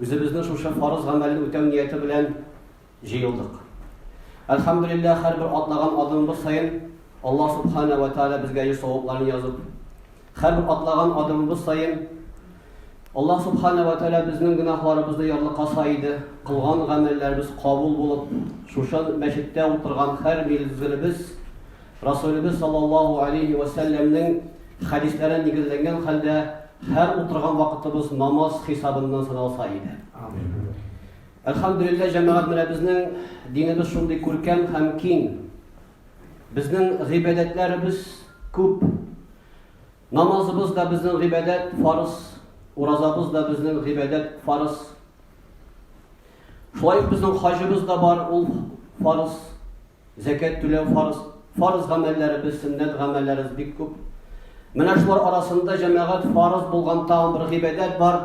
Үзебезне шушы фарыз гамәлне үтәү нияте белән җыелдык. Әлхәмдүлилләһ, һәрбер атлаган адымыбыз саен Аллаһ Субхана ва Тааля безгә йөз савапларын язып, һәрбер атлаган адымыбыз саен Аллаһ Субхана ва Тааля безнең гөнаһларыбызны ярлыкаса иде, кылган гамәлләребез кабул булып, шушы мәчеттә утырган һәр мизгелебез Расулебез саллаллаһу алейһи вә сәлләмнең хәдисләренә нигезләнгән хәлдә һәр утырган вакытыбыз намаз хисабыннан саналса иде. Әлхәмдулиллаһ җәмәгать менә безнең динебез шундый күркәм һәм киң. Безнең гыйбадәтләребез күп. Намазыбыз да безнең гыйбадәт фарыз, уразабыз да безнең гыйбадәт фарыз. Шулай ук безнең хаҗыбыз да бар, ул фарыз. Зәкят түләү фарыз. Фарыз гамәлләребез, сөннәт гамәлләребез бик күп. Менә шулар арасында җәмәгать фарыз булган тагын бер гыйбадәт бар,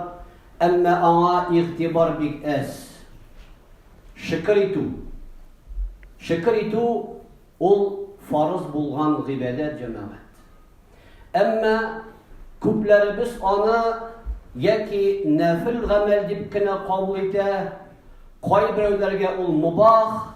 әмма аңа игътибар бик әз. Шөкер итү. Шөкер итү ул фарыз булган гыйбадәт җәмәгать. Әмма күпләребез аны яки нәфил гамәл дип кенә кабул итә, кайберәүләргә ул мубах,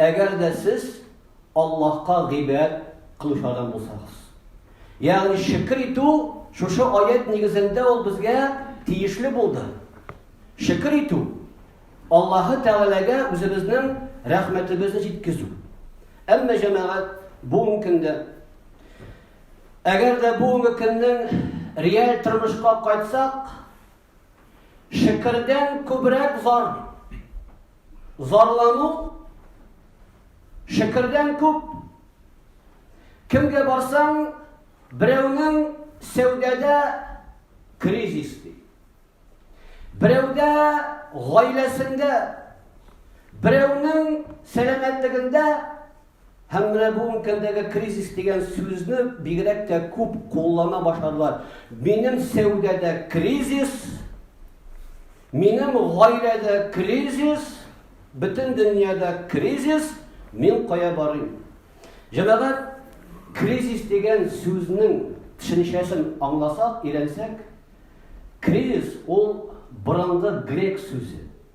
Әгәр дә сез Аллаһка гыйбадәт кылучы адам булсагыз. Ягъни шөкер итү шушы аят нигезендә ул безгә тиешле булды. Шөкер итү Аллаһы Тәгаләгә үзебезнең рәхмәтебезне җиткезү. Әмма җәмәгать бүгенге көндә әгәр дә бүгенге көннең реаль тормышка кайтсак, шөкердән күбрәк зар Зарлану шекердән күп. Кемгә барсаң, берәүнең сәүдәдә кризис ди. Берәүдә гаиләсендә, берәүнең сәламәтлегендә Һәм менә бу өлкәдәге кризис дигән сүзне бигрәк тә күп куллана башладылар. Минем сәүдәдә кризис, минем гаиләдә кризис, бөтен дөньяда кризис, мин кая барыйм? Җәмәгать кризис дигән сүзнең төшенчәсен аңласак, өйрәнсәк, кризис ул борынгы грек сүзе.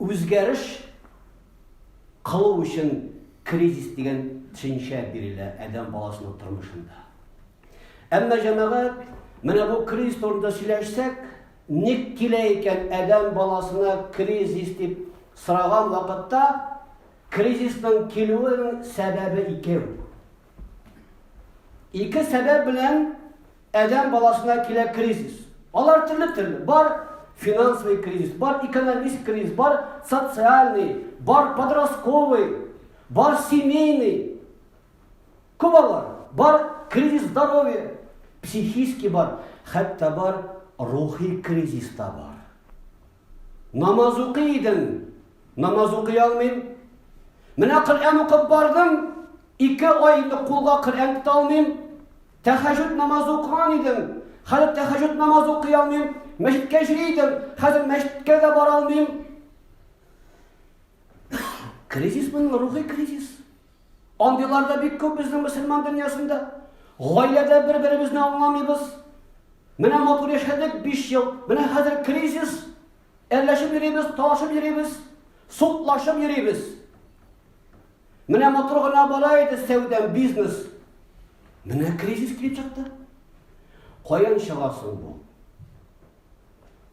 Үзгәреш кылу өчен кризис дигән төшенчә бирелә адәм баласының тормышында. Әмма җәмәгать, менә бу кризис турында сөйләшсәк, ник килә икән адәм баласына кризис дип сораган вакытта, кризисның килүенең сәбәбе икәү. Ике сәбәп белән әдәм баласына килә кризис. Алар төрле-төрле. Бар финансовый кризис, бар экономист кризис, бар социальный, бар подростковый, бар семейный. Күп алар. Бар кризис здоровья, психический бар, хәтта бар рухи кризис та бар. Намаз укый идем, намаз укый алмыйм. Менә Коръән укып бардым, ике ай инде кулга Коръән тота алмыйм. Тәхәҗҗүд намазы укыган идем, хәзер тәхәҗҗүд намазы укый алмыйм. Мәчеткә йөри идем, хәзер мәчеткә дә бара алмыйм. Кризис мин рухи кризис. Андыйлар да бик күп безнең мөселман дөньясында. Гаиләдә бер-беребезне аңламыйбыз. Менә матур яшәдек 5 ел. Менә хәзер кризис. Әлләшеп йөрибез, талашып йөрибез, судлашып йөрибез. Менә матур гына бара иде сәүдә, бизнес. Менә кризис килеп чыкты. Каян чыгасың бу?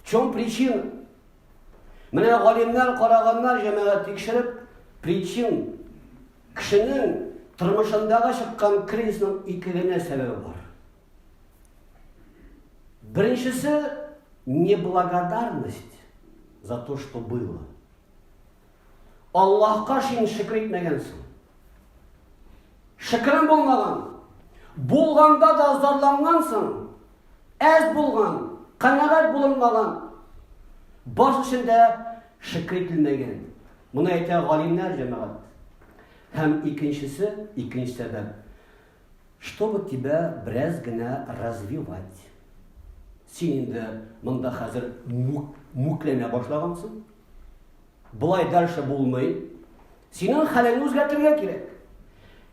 Чем причина? Менә галимнәр, караганнар, җәмәгать тикшереп, причин кешенең тормышындагы чыккан кризисның ике генә сәбәбе бар. Беренчесе неблагодарность за то, что было. Аллаһка шин шөкер итмәгәнсең. Шөкерем булмаган. Булганда да зарлангансың. Әз булган, канәгать булынмаган. Баш эчендә шөкер ителмәгән. Моны әйтә галимнәр җәмәгать. Һәм икенчесе, икенче сәбәп. Чтобы тебя бераз генә развивать. Син инде монда хәзер мүкләнә башлагансың. Болай дальше булмый. Синең хәлеңне үзгәртергә кирәк.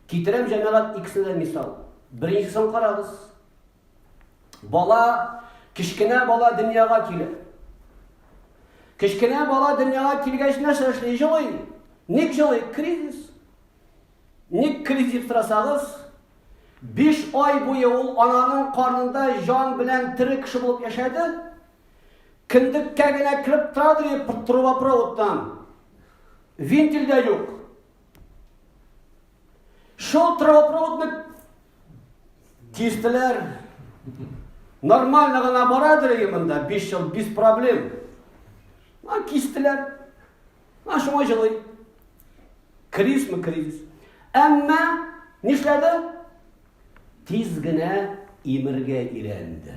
Китерәм җәмәгать икесенә дә мисал. Беренчесен карагыз. Бала, кечкенә бала дөньяга килә. Кечкенә бала дөньяга килгәч нәрсә эшли? Җылый. Ник җылый? Кризис. Ник кризис дип сорасагыз, 5 ай буе ул ананың карнында җан белән тере кеше булып яшәде, Кендеккә генә кереп тора, ди, трубопроводтан. Вентиль дә юк. Шул трубопроводны кистеләр. Нормально гына барадыр ие монда, 5 ел без проблем. А кистеләр. А шуңа җылый. Кризисме кризис. Әмма нишләде? Тиз генә имергә өйрәнде.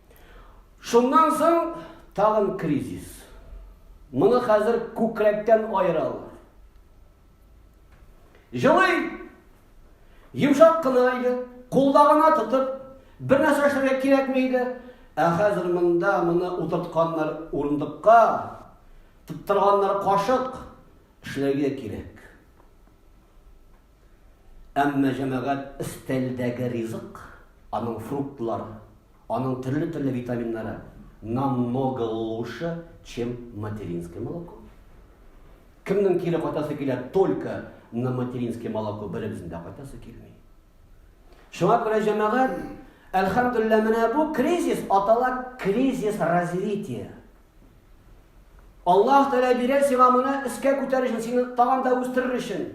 Шуннан соң тагын кризис. Моны хәзер күкрәктән аералар. Җылый! Йомшак кына иде, кулда гына тотып, бер нәрсә эшләргә кирәкми иде. Ә хәзер монда моны утыртканнар урындыкка, тоттырганнар кашык, эшләргә кирәк. Әмма җәмәгать өстәлдәге ризык, аның фруктлар, Аның төрле-төрле витаминнары намного лучше, чем материнское молоко. Кемнең кире кайтасы килә только на материнское молоко беребезнең дә кайтасы килми. Шуңа күрә җәмәгать, әлхәмдулилла, менә бу кризис атала кризис развития. Аллаһ Тәгалә бирә сиңа моны искә күтәрер өчен, сине тагын да үстерер өчен.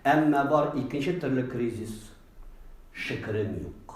Әмма бар икенче төрле кризис шикерем юк.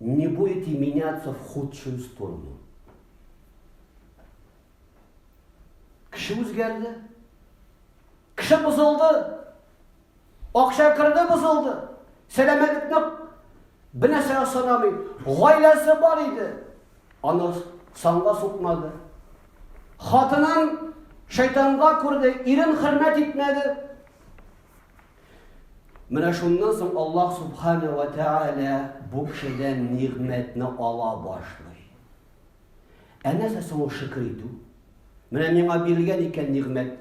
Не будете меняться в худшую сторону. Кеше үзгәрде. Кеше бозылды. Акча керде бозылды. Сәламәтлекне бинәсә санамый. Гаиләсе бар иде. Аны санга сукмады. Хатынын шайтанга күрде, ирен хөрмәт итмәде. Менә шуннан соң Аллаһ Субхана ва Тәгалә бу кешедән нигъмәтне ала башлый. Ә нәрсә соң шөкер итү? Менә миңа бирелгән икән нигъмәт.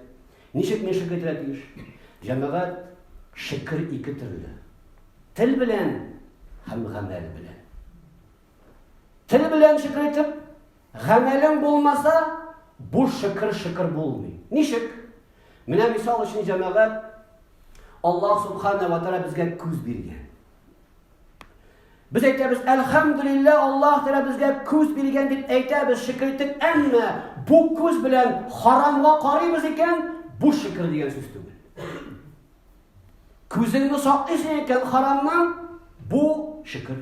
Ничек мин шөкер итәргә тиеш? Җәмәгать шөкер ике төрле. Тел белән һәм гамәл белән. Тел белән шөкер итеп, гамәлең булмаса, бу шөкер шөкер булмый. Ничек? Менә мисал өчен җәмәгать Аллаһ субхана ва тааля безгә күз биргән. Без әйтәбез, әлхәмдулилла, Аллаһ тәгәлә безгә күз биргән дип әйтәбез, шөкер итеп, әмма бу күз белән харамга карыйбыз икән, бу шөкер дигән сүз түгел. Күзеңне саклыйсың икән харамнан, бу шөкер.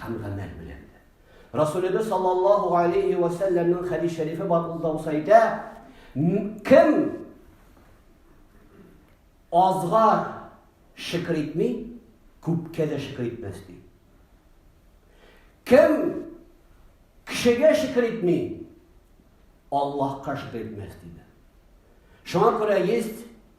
һәм гамәл белән дә. Расулебез саллаллаһу алейхи ва сәлләмнең хәдис шәрифе бар ул да әйтә, кем азга шөкер итми, күпкә дә шөкер итмәс ди. Кем кешегә шөкер итми, Аллаһка шөкер итмәс диде. Шуңа күрә есть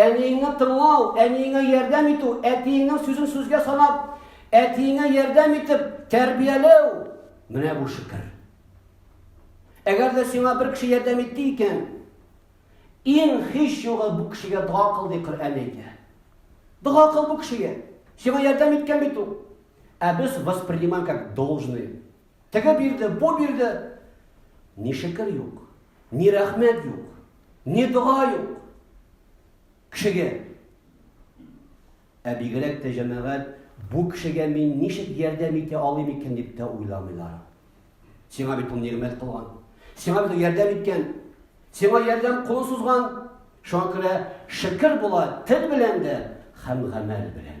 Әниеңне тыңлау, әниеңә ярдәм итү, әтиеңнең сүзен сүзгә санап, әтиеңә ярдәм итеп, тәрбияләү, менә бу шөкер. Әгәр дә сиңа бер кеше ярдәм итте икән, иң һич югы бу кешегә дога кыл ди Коръән әйтә. Дога кыл бу кешегә. Сиңа ярдәм иткән бит ул. Ә без воспринимаем как должное. Теге бирде, бу бирде. Ни шөкер юк, ни рәхмәт юк, ни дога юк. Кешегә. Ә бигрәк тә җәмәгать бу кешегә мин ничек ярдәм итә алыйм икән дип тә уйламыйлар. Сиңа бит ул нигъмәт кылган. Сиңа бит ярдәм иткән. Сиңа ярдәм кулы сузган. Шуңа күрә шөкер була тел белән дә һәм гамәл белән.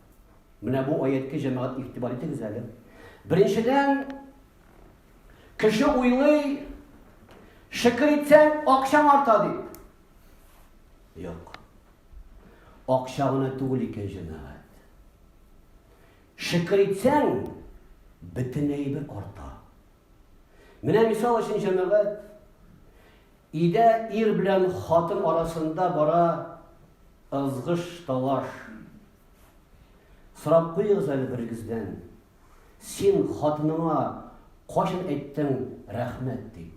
Менә бу аяткә җәмәгать игътибар итегез әле. Беренчедән, кеше уйлый, шөкер итсәң, акчаң арта дип. Юк. Акча гына түгел икән җәмәгать. Шөкер итсәң, бөтен әйбер арта. Менә мисал өчен, җәмәгать, өйдә ир белән хатын арасында бара ызгыш, талаш. Сорап куегыз әле берегездән. Син хатыныңа кайчан әйттең рәхмәт дип?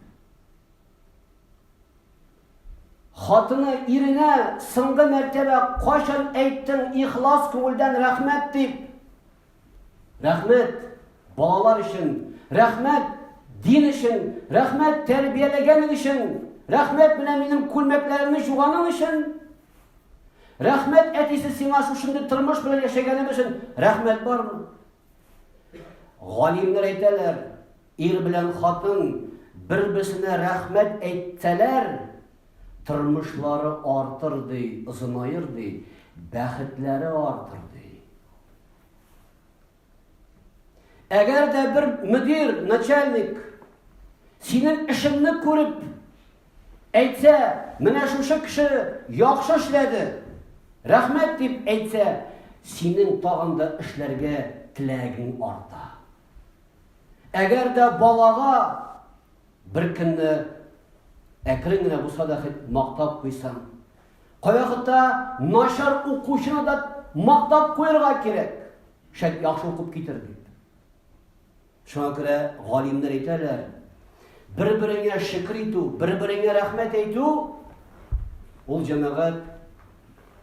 Хатыны иренә соңгы мәртәбә кайчан әйттең ихлас күңелдән рәхмәт дип? Рәхмәт балалар өчен, рәхмәт дин өчен, рәхмәт тәрбияләгәнең өчен, рәхмәт менә минем күлмәкләремне жуганың өчен. Рәхмәт әтисе сиңа шушындый тормыш белән яшәгәнем өчен рәхмәт бармы? Галимнәр әйтәләр, ир белән хатын бер-берсенә рәхмәт әйтсәләр, тормышлары артыр ди, озынайыр ди, бәхетләре артыр Әгәр дә бер мөдир, начальник синең эшеңне күреп әйтсә, менә шушы кеше яхшы эшләде, рәхмәт дип әйтсә, синең тагын да эшләргә теләгең арта. Әгәр дә балага Бер кемне әкрен генә булса да хет мактап куйсаң. Кайвакытта начар укучыны да мактап куярга кирәк. Шәт яхшы укып китер дип. Шуңа күрә галимнәр әйтәләр, бер-береңә шөкер итү, бер-береңә рәхмәт әйтү ул җәмәгать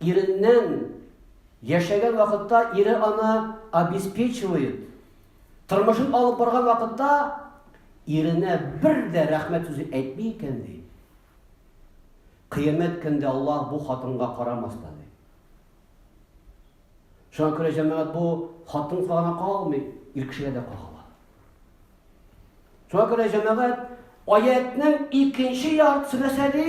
Иреннән яшәгән вакытта ире аны обеспечивает. Тормышын алып барган вакытта иренә бер дә рәхмәт сүзе әйтми икән ди. Кыямәт көндә Аллаһ бу хатынга карамас та ди. Шуңа күрә җәмәгать бу хатын гына калмый, ир кешегә дә кагыла. Шуңа күрә җәмәгать аятның икенче яртысы нәрсә ди?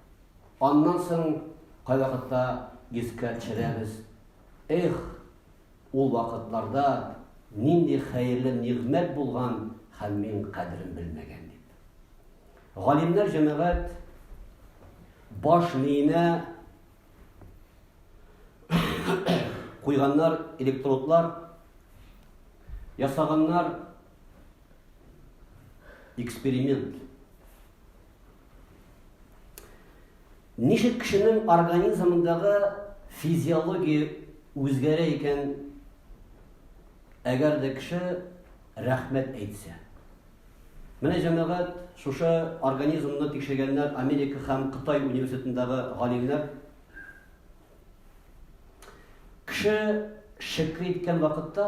Аннан соң кайвакытта искә төшерәбез. Эх, ул вакытларда нинди хәерле нигъмәт булган һәм мин кадерен белмәгән дип. Галимнәр җәмәгать баш миенә куйганнар электродлар, ясаганнар эксперимент. Ничек кешенең организмындагы физиология үзгәрә икән, әгәр дә кеше рәхмәт әйтсә? Менә җәмәгать, шушы организмны тикшергәннәр Америка һәм Кытай университетындагы галимнәр. Кеше шөкер иткән вакытта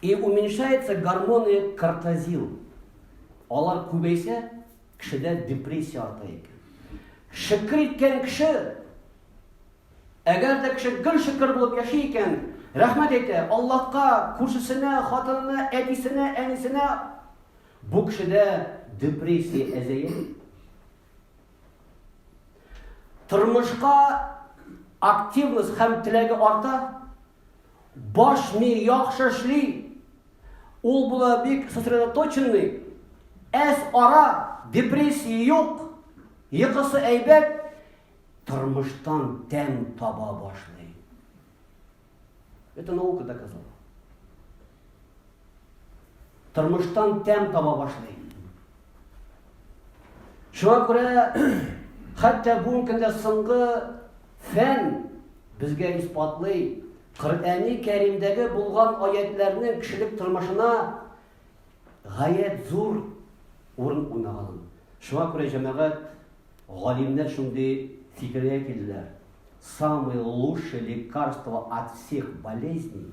И уменьшается гормоны кортозил. Алар күбәйсә, кешедә депрессия арта икән. Шөкер иткән кеше, әгәр дә кеше гел шөкер булып яши икән, рәхмәт әйтә, Аллаһка, күршесенә, хатынына, әтисенә, әнисенә, бу кешедә депрессия әзәя. Тормышка активность һәм теләге арта, Баш ми яхшы эшли. Ул була бик сосредоточенный. Әс ара, депрессия юк. Йокысы әйбәт. Тормыштан тәм таба башлый. Это наука доказала. Тормыштан тәм таба башлый. Шуңа күрә хәтта бүгенге көндә соңгы фән безгә исбатлый, Коръәни Кәримдәге булган аятларның кешелек тормышына гаять зур урын уйнаганын. Шуңа күрә җәмәгать галимнәр шундый фикергә килделәр. Самый лучший лекарство от всех болезней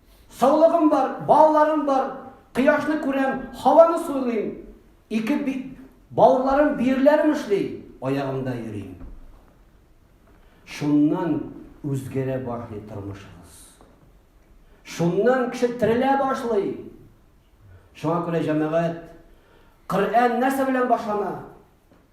Саулыгым бар, балаларым бар, кояшны күрәм, һаваны сулыйм, ике би, бавырларым, биерләрем эшли, аягымда йөрим. Шуннан үзгәрә башлый тормышыгыз. Шуннан кеше терелә башлый. Шуңа күрә җәмәгать Коръән нәрсә белән башлана?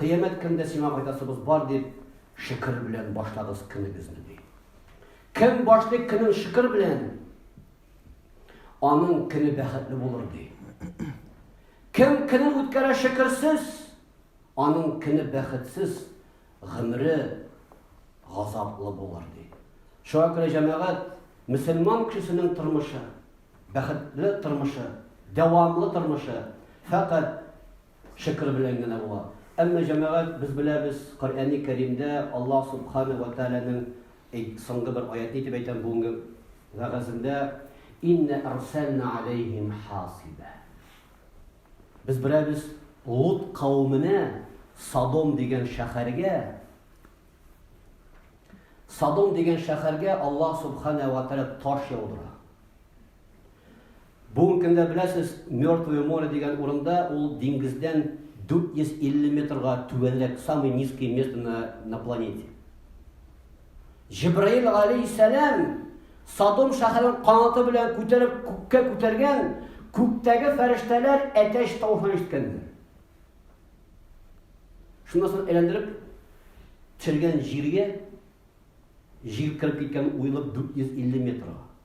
Кыямәт көндә сиңа кайтасыбыз бар дип, шөкер белән башлагыз көнегезне ди. Кем башлый көнен шөкер белән, аның көне бәхетле булыр ди. Кем көнен үткәрә шөкерсез, аның көне бәхетсез, гомере газаплы булыр ди. Шуңа күрә җәмәгать мөселман кешесенең тормышы, бәхетле тормышы, дәвамлы тормышы фәкать Шөкер белән генә була. Әмма, җәмәгать, без беләбез, Коръәни Кәримдә Аллаһ Субхана вә Тәгаләнең, әйт, соңгы бер аятне итеп әйтәм, бүгенге вәгазендә, Иннә әрсәлнә галәйһим хасибә. Без беләбез, Лут кавеменә, Содом дигән шәһәргә, Содом дигән шәһәргә Аллаһ Субхана вә Тәгалә таш яудыра. Бүгенге көндә, беләсез, Мертвое море дигән урында ул диңгездән 450 метрга түбәнрәк, самый низкий место на, на планете. Җибраил алейхиссәлам Садом шәһәрен канаты белән күтәреп күккә күтәргән, күктәге фәрештәләр әтәч тавышын ишеткәннәр. Шуннан соң әйләндереп төшергән җиргә җил киреп киткән уйлап 450 метрга.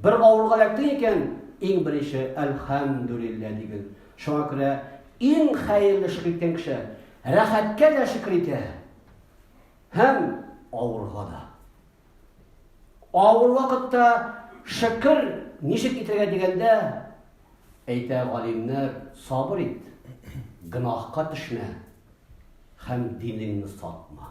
Бер авырга эләктең икән, иң беренче әлхәмдүлиллә дигез. Шуңа күрә иң хәерле шөкер иткән кеше рәхәткә дә шөкер итә. Һәм авырга да. Авыр вакытта шөкер ничек итәргә дигәндә, әйтә галимнәр, сабыр ит, гөнаһка төшмә һәм динеңне сатма.